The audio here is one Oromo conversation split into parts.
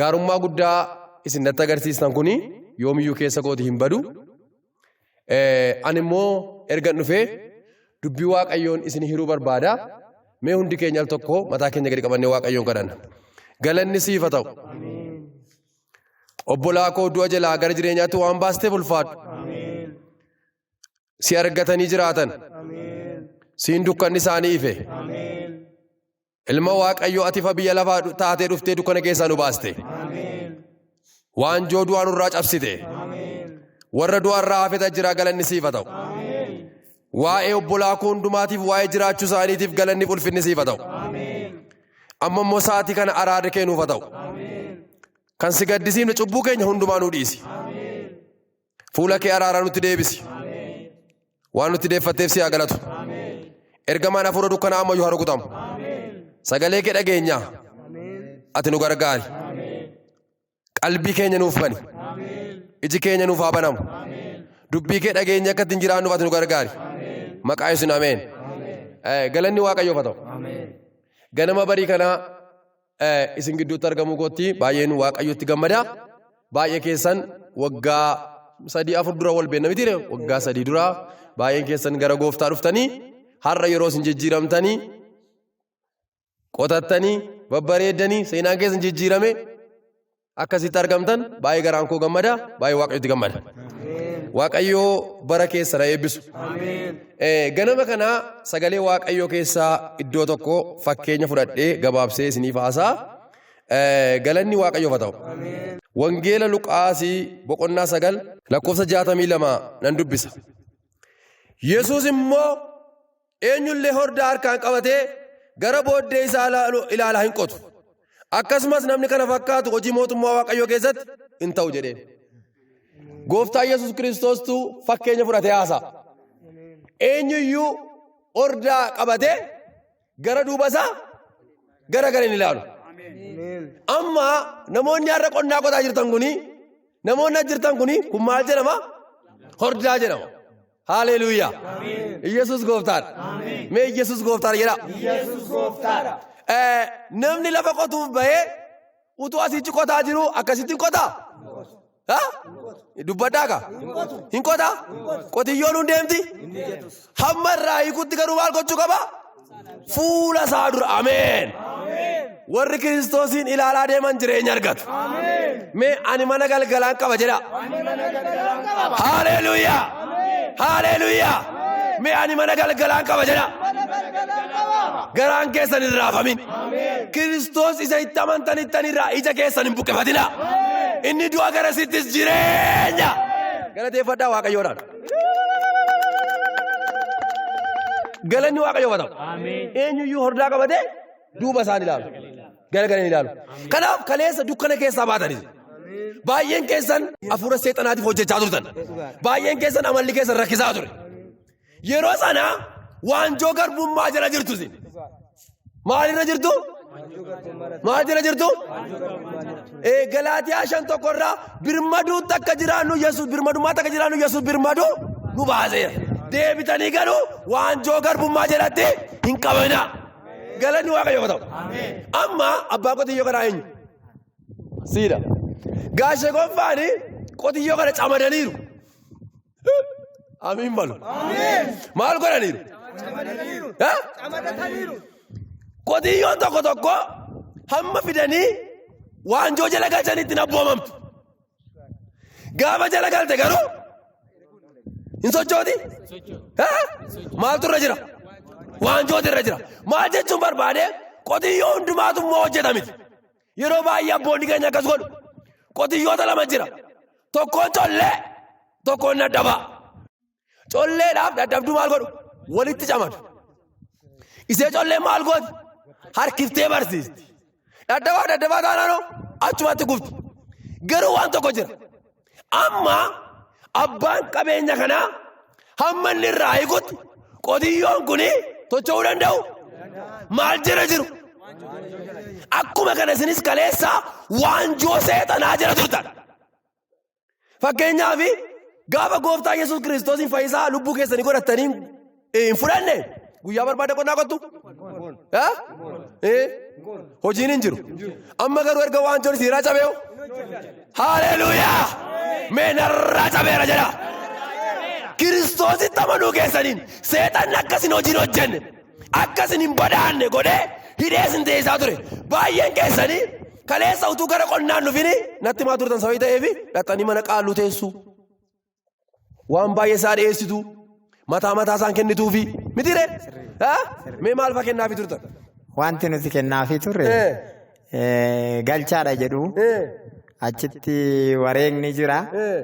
gaarummaa guddaa isin natti agarsiistan kun yoomiyyuu keessa kooti hin badu. Ani immoo ergan dhufee dubbii waaqayyoon isin hiruu barbaada. Mee hundi keenya al tokko mataa keenya gadi qabannee waaqayyoon kadhanna. Galanni siif haa ta'u. Obbolaa koo du'a jalaa gara jireenyaatti waan baasteef ulfaadhu. Si argatanii jiraatan. Siin dukkanni isaanii ife. Ilma Waaqayyoo ati ifa biyya lafaa dhu- taatee dhuftee dukkana keessaa nu baaste. Waanjoo du'aa nurraa cabsite. Warra du'a irraa hafeta jira galanni siifa ta'u. Waa'ee obbolaa koo hundumaatiif waa'ee jiraachuu isaaniitiif galanni ulfinni siifa ta'u. Amma immoo sa'aatii kana araada kee nuufa ta'u. Kan si gaddisiifne cubbuu keenya hundumaa nu dhiisi. Fuula kee araaraa nutti deebisi. Waan nutti deeffatteef si haa galatu. Ergamaan hafuura dukkanaa ammayyuu haa rukutamu. Sagalee kee dhageenya. Ati nu gargaari. Qalbii keenya nuuf bani. Iji keenya nuuf haa banamu. Dubbii kee dhageenya akka ittiin jiraannuuf ati nu gargaari. Maqaa Yesuusiin ameen. Eh, Galanni Waaqayyoof haa ta'u. Ganama barii kanaa isin gidduutti argamuu kootti baay'een waaqayyotti gammada. Baay'ee keessan waggaa sadii afur dura wal beekna miti waggaa sadii dura baay'een keessan gara gooftaa dhuftanii har'a yeroo isin jijjiiramtanii qotattanii babbareeddanii seenaan keessan jijjiirame akkasitti argamtan baay'ee garaan koo gammada baay'ee waaqayyotti gammada. Waaqayyoo bara keessa na eebbisu. Eh, Ganama kana sagalee waaqayyoo keessaa iddoo tokko fakkeenya fudhadhee gabaabsee isiniif haasaa Eh, galanni waaqayyoof haa ta'u. Wangeela Luqaasii boqonnaa sagal lakkoofsa jaatamii lama nan dubbisa. Yesuus immoo Eenyullee hordaa harkaan qabatee gara booddee isaa ilaalu- ilaalaa hin qotu. Akkasumas namni kana fakkaatu hojii mootummaa Waaqayyoo keessatti hin ta'u jedheen. Gooftaa Yesuus Kiristoostu fakkeenya fudhatee haasa'a. Eenyuyyuu hordaa qabatee gara duuba isaa gara gara hin ilaalu. Amma namoonni har'a qonnaa qotaa jirtan kuni namoonni as jirtan kuni kun maal jedhama? Hordaa jedhama. Haleluuyaa. Yesus gooftaadha. Mee Yesus gooftaadha jedhaa. Yesus gooftaadha. Eh, Namni lafa qotuuf bahee utuu asitti qotaa jiru akkasitti hin qotaa? Ha? Dubbadhaa kaa? Hin qotaa? Qotiyyoon hin deemti? Hamma irraa hiikutti garuu maal gochuu qaba? Fuula isaa dura ameen. Warri kiristoosiin ilaalaa deeman jireenya argatu. Mee ani mana galgalaan qaba jedha. Haleluuyaa! Haleluuyaa! Mee ani mana galgalaan qaba jedha. Garaan keessan hin raafamin. Kiristoos isa itti amantanittan irraa ija keessan hin buqqifatina. Inni du'a gara sittis jireenya. Galateeffadhaa Waaqayyoodhaan. Galanni waaqayyoo haa ta'u. Eenyuyyuu hordaa qabatee duuba isaan ilaalu. Garagaranii ilaalu. Kanaaf kaleessa dukkana keessaa baatanii. Baay'een keessan hafuura seexanaatiif hojjechaa turtan. Baay'een keessan amalli keessan rakkisaa ture. Yeroo sana waanjoo garbummaa jala jirtu isin. Maalirra jirtu? Maal jala jirtu? Ee Galaatiyaa shan tokkorraa birmaduun takka jiraannu Yesuus birmadummaa takka jiraannu Yesuus birmadu nu baaseera. Deebitanii garuu waanjoo garbummaa jalatti hin qabina. Galanni waaqayyoo ta'u. Amma abbaa qotiyyoo kanaa eenyu? Siidha. Gaashee gonfaani qotiyyoo kana camadaniiru. Amiin balu. Maal godhaniiru? Eh? Qotiyyoon tokko tokko hamma fidanii waanjoo jala galchanitti hin abboomamtu. Gaafa jala galte garuu hin sochooti? Eh? Maaltu irra jira? Waanjooti irra jira. Maal jechuun barbaade qotiyyoo hundumaatu immoo hojjeta miti. Yeroo baay'ee abboonni keenya akkas godhu. Qotiyyoota lama jira. Tokkoon collee, tokkoon dadhabaa. Colleedhaaf dadhabduu maal godhu? Walitti camadu. Isee collee maal gooti? Harkiftee barsiisti. Dadhabaaf dadhabaa taanaanoo achumatti gubdi. Garuu waan tokko jira. Amma abbaan qabeenya kanaa hamma inni irraa hiikutti qotiyyoon kun tocho'uu danda'u maal jira jiru. Akkuma kana isinis kaleessa waanjoo seexanaa jira turtan. Fakkeenyaaf gaafa gooftaa Yesuus Kiristoosiin fayyisaa lubbuu keessanii godhattanii Hin fudhanne guyyaa barbaada qonnaa qottu? Ha? Eh? Hojiin hin jiru. Amma garuu erga waan jiru siiraa cabeewu. Haleluuyaa! Mee narraa cabeera jedha. Kiristoositti amanuu keessaniin seexanni akka isin hojiin hojjenne akka isin hin badaanne godhee hidhee isin teessaa ture. Baay'een keessanii kaleessa utuu gara qonnaan dhufini natti maa turtan sababii ta'eef dhaxxanii mana qaaluu teessuu. waan baay'ee isaa dhiyeessitu mataa mataa isaan kennituufi miti ree mee maal fa'aa kennaafi turtan. Wanti nuti kennaafii turre Eh, eh, galchaadha jedhu eh, achitti wareegni jira. eh.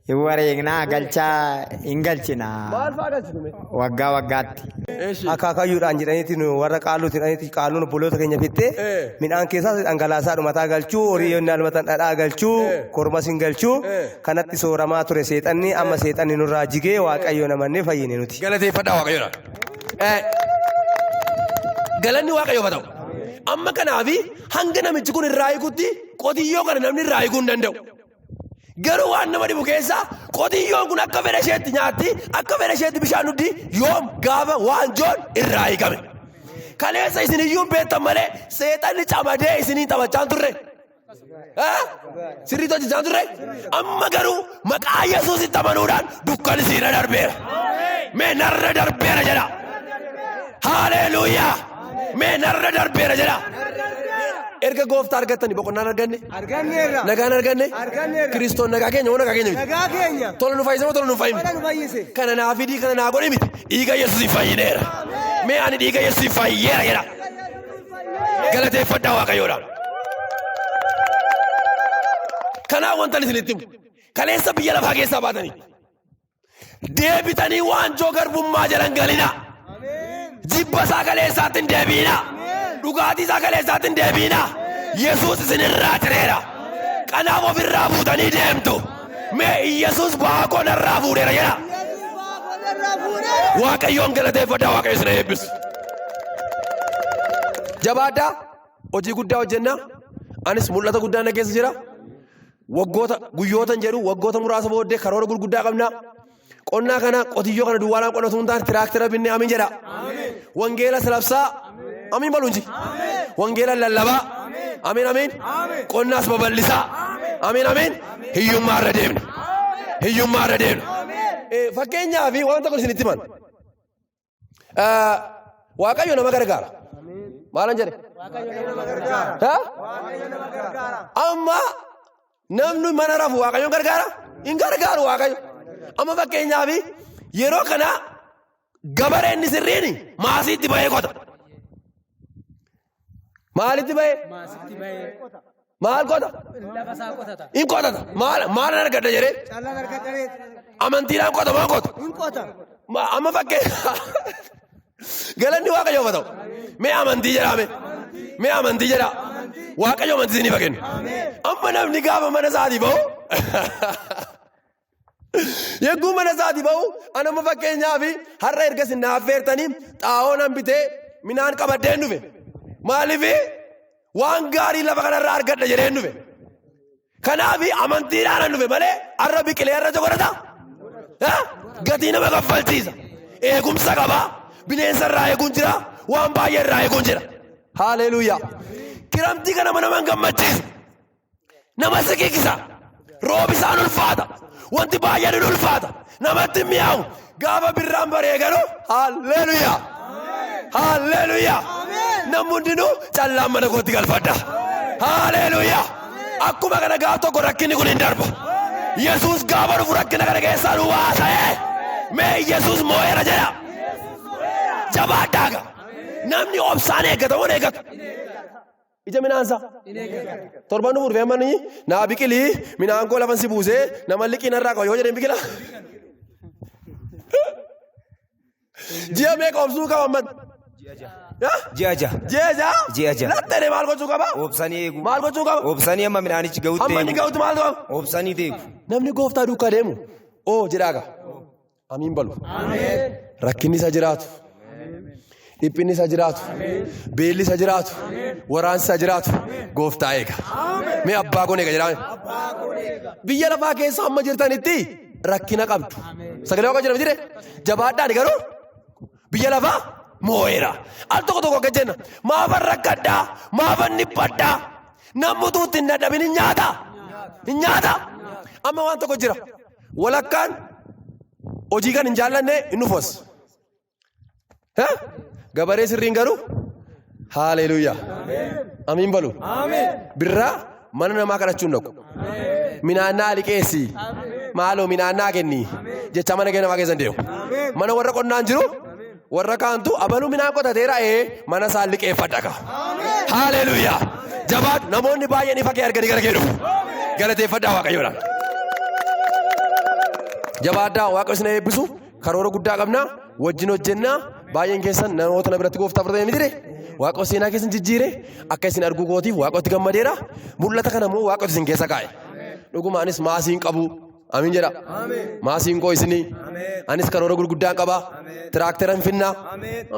Hin wareegnaa galchaa hin galchina maal fa'aa galchitu mee. waggaa waggaatti. akaakayyuudhaan jedhaniiti nu warra qaalluuti jedhaniiti qaalluun obboloota keenya fittee Eh. midhaan keessaas dhangalaasaa dhumataa galchuu horii yennaa dhumatan dhadhaa galchuu Eh. kormas hin galchuu Eh. kanatti sooramaa ture seexanni amma seexanni nurraa jigee waaqayyoon amannee fayyine nuti. Galateeffadhaa waaqayyoodha. Eh, Galanni waaqayyoof haa ta'u. Amma kanaafi hanga namichi kun irraa hiikutti qotiyyoo kana namni irraa hiikuu hin danda'u. Garuu waan nama dhibu keessaa qotiyyoon kun akka fedha isheetti nyaatti akka fedha isheetti bishaan dhugdi yoom gaafa waanjoon irraa hiikame. Kaleessa isin iyyuu hin beektan malee seexanni camadee isiniin taphachaa hin turre. Sirriitti hojjechaa turre amma garuu maqaa Yesuusitti amanuudhaan dukkan siirra darbeera. Mee narra darbeera jedha. Haaleeluuyaa! Mee narra darbeera jedha. Erga gooftaa argattanii boqonnaan arganne Arganneerra. nagaan arganne Arganneerra. kiristoon nagaa keenya moo nagaa keenya miti. Nagaa keenya. Tola nu fayyise moo tola nu hin fayyine? Kana nu fayyise. Kana naa fidii kana naa godhi miti dhiiga Yesuusiin fayyineera. Mee ani dhiiga Yesuusiin fayyeera jedha. Galateeffadhaa waaqayyoodha. Kanaa wantan isinitti himu. Kaleessa biyya lafaa keessaa baatanii. Deebitanii waanjoo garbummaa jalan galinaa. Jibba isaa kaleessaatti hin deebiinaa. Dhugaatii isaa kaleessaatti hin deebiinaa. Yesuus isinirraa cireera. Kanaaf ofirraa buutanii deemtu. Mee Iyyasuus ba'aa koo narraa fuudheera jedha. Waaqayyoon galateeffadhaa Waaqayyo isin eebbisu. Jabaadhaa hojii guddaa hojjennaa anis mul'ata guddaa na keessa jira. Waggoota guyyootan jedhu waggoota muraasa booddee karoora gurguddaa qabnaa. Qonnaa kana qotiyyoo kana duwwaadhaan qonna osoo hin taane tiraaktera binnee amiin jedha. Wangeela salabsaa amiin balu inji. Wangeela lallabaa amiin amiin. Qonnaas babal'isaa amiin amiin. Hiyyummaa irra deemna. Hiyyummaa irra deemna. Fakkeenyaa fi wanta kun isinitti himan. Ah, Waaqayyo nama gargaara. Maalan jedhe? Ha? Amma namni mana rafu Waaqayyoon gargaara? Hin gargaaru Waaqayyo. Amma fakkeenyaaf yeroo kana gabareen sirriin maasiitti bahee qota. Maalitti ba'ee? Maasitti ba'ee Maal qota? lafa isaa qotata. Hin qotata. Maal maal argadha jedhee? Callaan harka daree Amantiidhaan qota maal qota? hin qota. Ma- Amma fakkee galanni waaqayyoof haa ta'u. Mee amantii jedhaa mee? Mee amantii jedhaa? Waaqayyo amantii isiniif haa kennu. Amma namni gaafa mana isaatii ba'u Yagguu mana isaati ba'u anamma fakkeenyaa fi har'a erga isin naaffeertanii xaa'oo nan bitee minaan qabadheen dhufe. Maaliif waan gaarii lafa kanarraa argadha jedheen dhufe. Kanaaf amantiidhaan dhufe malee har'a biqilee har'a jokorata gatii nama kaffalchiisa. Eegumsa qaba bineensa irraa eeguun jira waan baay'ee irraa eeguun jira. Haaleeluuyaa. Kiramtii kana mana man gammachiisa. Nama si kikkisa. Roobisaan ulfaata. Wanti baay'een hin ulfaata. Namatti hin mi'aawu. Gaafa birraan baree garuu haalleluyaa. Haalleluyaa. Namni hundinuu callaan mana kootti galfadha. Haalleluyaa. Akkuma kana gaaf tokko rakkinni kun hin darba. Yesuus gaafa dhufu rakkina kana keessaa nu baasee. Mee Yesuus moo'eera jedha. Jabaadhaa ga. Namni obsaan eeggata wan eeggatu. Ija midhaansa. Torban dhufu dhufee manni naa biqili midhaan koo lafan si buusee nama liqii narraa qaba yoo jedheen biqila. Ji'a meeqa obsuu qaba man? Ji'a ja'a. Ji'a ja'a? Ji'a ja'a. Lattee maal gochuu qaba? Obsanii eegu. Maal gochuu qaba? Obsanii amma midhaanichi gahutti Amma inni eegu. ga'utti maal qaba? Obsanii eegu. Namni gooftaa duukaa deemu oo jedhaa qaba. Amiin balu. Rakkinni isa jiraatu. Dhiphinni isa jiraatu. Beelli isa jiraatu. Waraansi isa jiraatu. Gooftaa eega. Mee abbaa kun eega jedhame. Biyya lafaa keessa amma jirtanitti rakkina qabdu. Sagalee waaqa jedhame jire. Jabaadhaan garuu biyya lafaa moo'eera. Al tokko tokko akka jenna. Maafan rakkadhaa? Maafan dhiphadhaa? Namni utuu itti hin dadhabin hin nyaata. Hin nyaata. Amma waan tokko jira. Walakkaan hojii kan hin jaallanne hin dhufas. Gabaree sirriin garuu haaleeluuyaa. Amiin balu. Birraa mana namaa kadhachuu hin dhaqu. Minaannaa liqeessi. Maaloo minaannaa kenni. Jecha mana kee namaa keessa hin deemu. Mana warra qonnaan jiru. Warra kaantu abaluu midhaan qotateera ee mana isaa liqeeffadha kaa. Haaleluuyaa. Jabaadhu namoonni baay'een ifa kee arganii gara kee dhufu. Galateeffadhaa waaqayyoodhaan. Jabaadhaa waaqayyo isin eebbisu karoora guddaa qabna wajjin hojjennaa baay'een keessan namoota na biratti gooftaa fudhatanii miti waaqayyo seenaa keessan jijjiire akka isin arguu kootiif waaqayyotti gammadeera mul'ata kana immoo waaqayyo isin keessa kaa'e. Dhugumaanis maasii hin qabu Amiin jedha. Maasiinqoo isinii. Anis karoora gurguddaan qaba. Tiraaktera hin finnaa.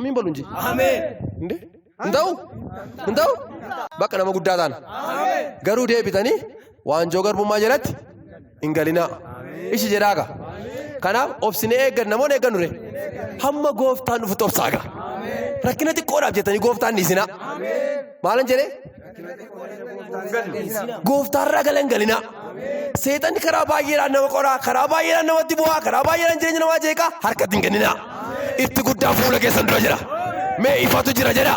Amiin balu inji. Inde? Hin ta'u? Hin ta'u? Bakka nama guddaa taana. Garuu deebitanii waanjoo garbummaa jalatti hin galinaa. Ishi jedhaaga. Kanaaf obsine eeggan namoonni eeggan dure. Hamma gooftaan dhufutti obsaaga. Rakkina xiqqoodhaaf jettanii gooftaan dhiisinaa. Maalan jedhee? Gooftaarraa galan galinaa. Seexanni karaa baay'eedhaan nama qoraa, karaa baay'eedhaan namatti bu'aa, karaa baay'eedhaan jireenya namaa jeeqaa harkatti hin kenninaa. Itti guddaa fuula keessan dura jira. Mee ifatu jira jedha.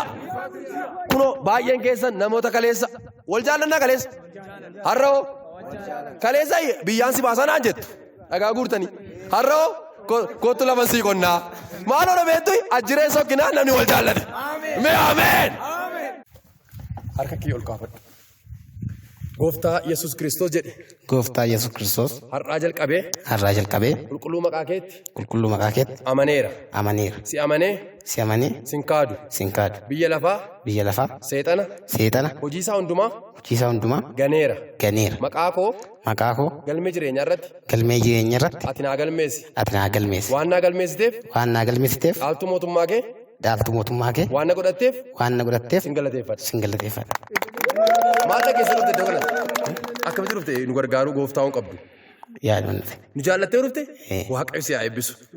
Kunoo baay'een keessan namoota kaleessa wal jaallannaa kaleessa. Har'a hoo kaleessa biyyaan si baasaa naan jettu dhagaa guurtanii. Har'a hoo ko- kottu lafa sii qonnaa. Maaloo dhabeettu ajjireen sokkinaa namni wal jaallate. Mee ameen. Harka kee ol kaafadhu. Gooftaa Yesuus Kiristoos jedhe Gooftaa Yesuus Kiristoos har'aa jalqabee har'aa jalqabee qulqulluu maqaa keetti qulqulluu maqaa keetti amaneera. amaneera. Si amanee Si amanee sin kaadu. sin kaadu. Biyya lafaa Biyya lafaa seexana seexana hojiisaa hundumaa hojiisaa hundumaa ganeera. ganeera. Maqaa koo Maqaa koo galmee jireenyaa irratti galmee jireenya irratti ati naa galmeessi. ati naa galmeessi. Waan naa galmeessiteef Waan naa galmeessiteef dhaaltuu mootummaa kee Dhaabatu mootummaa kee. Waan na godhatteef. Waan na godhatteef. Sin galateeffadha. Sin galateeffadha. Maal dhageessee dhufte iddoo kanatti? Akkamitti dhufte nu gargaaruu gooftaa waan qabdu? Yaaduma dhufe. Nu jaallattee dhufte? Waaqayyo si haa eebbisu.